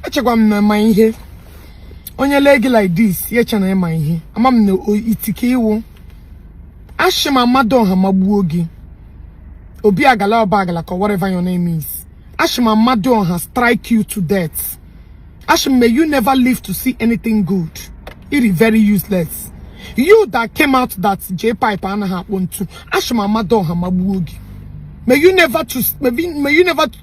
echekwa m na ịma ihe onye lee gị like this ya eche na ịma ihe ama m na iti ka ị wụ ashị m amadịọha magbuo gị obi agala ọba agala ka whatever your name is ashị m amadịọha strike you to death ashị m may you never live to see anything good it is very useless you that came out that j pipe anaghị akpọ ntu ashị m amadịọha magbuo gị may you never to may you, may you never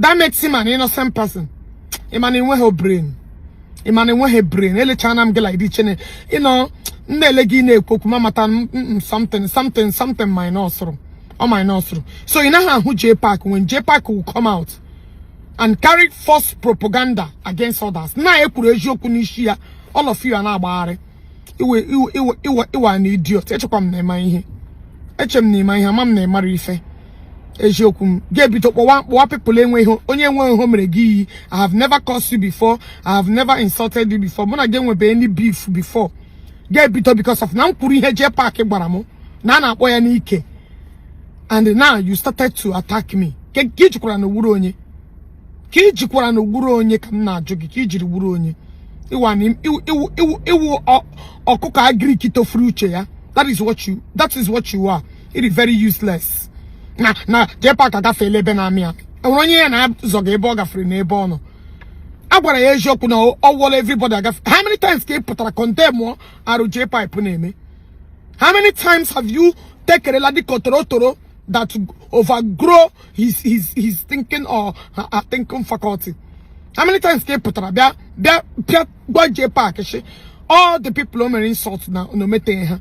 that makes him an innocent person ị ma na i nweghị brain ị ma na i nweghị brain elechana m gị like this chee na ị nọ m na-ele gị na-ekwu okwu ma mata m m something something something minus rụ ọ minus rụ so ị naghị ahụ J Park when J Park will come out and carry false propaganda against others na e kwuru eziokwu n'isi ya all of you a na-agbagharị iwe iwe iwe iwe iwe na idiot echekwa m na ịma ihe eche m na ịma ihe ama m na ịmara ife eziokwu m ga-ebido kpọwa kpọwa pepụl enweghị onye nwe ihe o mere gị iyi i have never cursed you before i have never insulted you before mụ na gị enwebe any beef before ga-ebido because of na m kwuru ihe jee paakị gwara m na a na-akpọ ya n'ike and now you started to attack me ka ka ị jụkwara na owuru onye ka i jikwaranụ wụrụ onye ka m na-ajụ gị ka i jiri wụrụ onye ị wụ an ị wụ ị wụ ị wụ ị wụ ọ- ọkụkọ agric tofere uche ya that is what you that is what you are it is very useless na na J Park agafeela ebe na-amị ya enwere onye ya na-azọ gị ebe ọ gafere na ebe ọ nọ a gwara ya eziokwu na ọ ọ wụọla everybody agafe how many times ka ị pụtara condemn arụ J pipe na-eme how many times have you tekerela dịka torotoro that overgrow his his his thinking or her, her thinking faculty how many times ka ị pụtara bịa bịa bịa gwa J Park shị all the people o mere insult na na o meteghị ha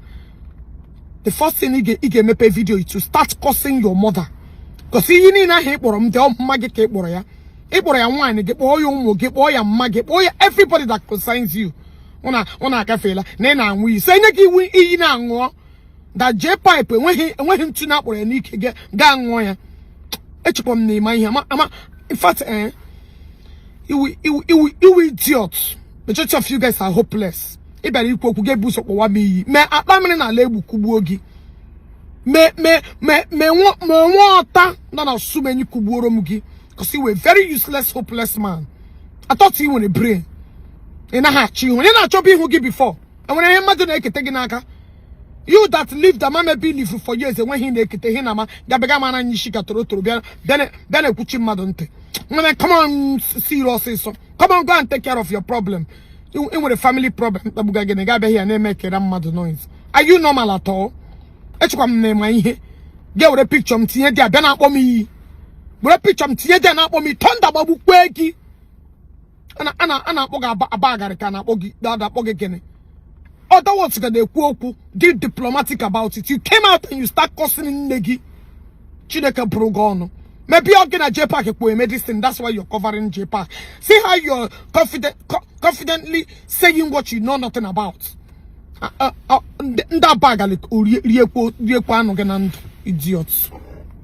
the first thing ị ga- ị ga-emepe video to start cursing your mother because ihe niile ahụ ị kpọrọ m dị mma gị ka ị kpọrọ ya ị kpọrọ ya nwaanyị gị kpọọ ya ụmụ gị kpọọ ya mma gị kpọọ ya everybody that concerns you ụna ụna agafeela na ị na-anwụ iyi so enye gị iwu iyi na-aṅụọ that J pipe enweghị enweghị ntu na akpọrọ ya n'ike ga- gaa ṅụọ ya echekwa m na ịma ihe ama ama in fact eh, ị wụ ị wụ ị wụ ị wụ idiot majority of you guys are hopeless ị bịara ikwu okwu ga-ebu ụzọ kpọwa m iyi may Ọtammiri n'ala Egbu kụgbuo gị may may may may nwa may nwa ọta nọ na sumenyi kụgbuoro m gị because you were very useless hopeless man I thought you nwere brain ị naghị achọ ihu onye na-achọbu ihu gị before enwere ihe mmadụ na-ekete gị n'aka you that lived ama maybe live for years enweghị na-ekete ihe na ama gabịga mara anyị isi ka toro toro bịa bịa na-ekwuchi mmadụ ntị nwere come on see you ọsịsọ come on go and take care of your problem ị nwere family problem mkpagbuga gị na ị ga-abịaghị ya na-emekere mmadụ noise are you normal at all echekwa m na ị ma ihe ga were picture m tinye there bịa na-akpọ m iyi were picture m tinye there na-akpọ m iyi thunder gbagbukwe gị a na-akpọ gị aba agarị ka a na-akpọ gị akpọ gị gịnị other words ka na-ekwu okwu dị diplomatic about it you came out and you start cursing nne gị chineke bụrụ gị ọnụ maybe ọ gị na J Park ekpo medicine that's why you're covering J Park see how you're confident co confidently saying what you know nothing about uh, uh, uh, ndị aba agalị riekwa anụ gị na ndụ idiot